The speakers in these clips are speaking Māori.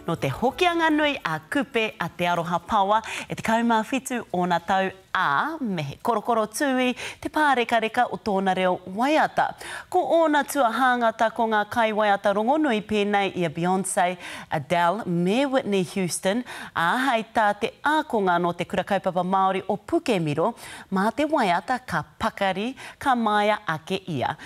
Nō te Hokianga nui a Kupe a Te Aroha Paoa e 17 ōna tau, ā, me he korokoro tūī te pārekareka o tōna reo waiata. Ko ōna tuahāngata ko ngā kaiwaiata rongonui pēnei i a Beyonce, Adele me Whitney Houston, ā, hei tā te ākonga nō Te Kura Kaupapa Māori o Pukemiro, mā te waiata ka pakari, ka māia ake ia.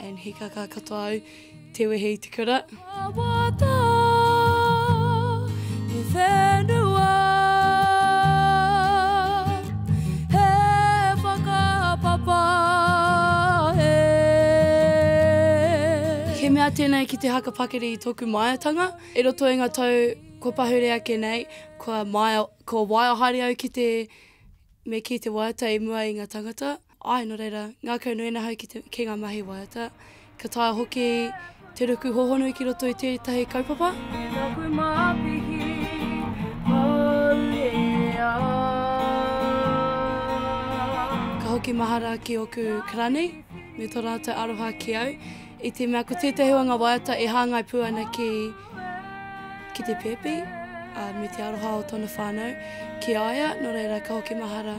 And he kaka katoa au te wehe i te kura. Wawata, he whenua, he whakapapa, he. He mea tēnei ki te haka pakiri i tōku māiatanga. I roto i ngā tau kua pahure ake nei, kua, maia, kua waia haere au ki te, me kī te waiata i mua i ngā tangata. Āe, nō reira, ngākau nui ana ahau ki te, ki ngā mahi waiata. Ka taea hoki te ruku hōhonu ki roto i tētahi kaupapa. Taku māpihi, maurea. Ka hoki mahara ki ōku karani me tō rātou aroha ki au, i te mea ko tētahi o ngā waiata e hāngai pū ana ki, ki te pēpi, ā, me te aroha o tōna whānau ki a ia, nō reira, ka hoki mahara.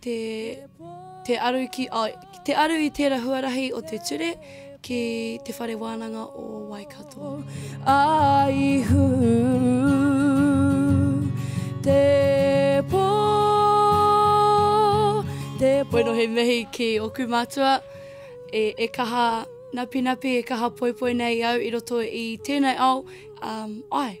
Te, te, aru ki, oh, te aru i tērā huarahi o te ture ki te whare wānanga o Waikato. Aihu, te pō, te pō. Bueno, he mihi ki oku mātua e, e kaha napinapi, e kaha poipoi nei au i roto i tēnei ao, um, ai.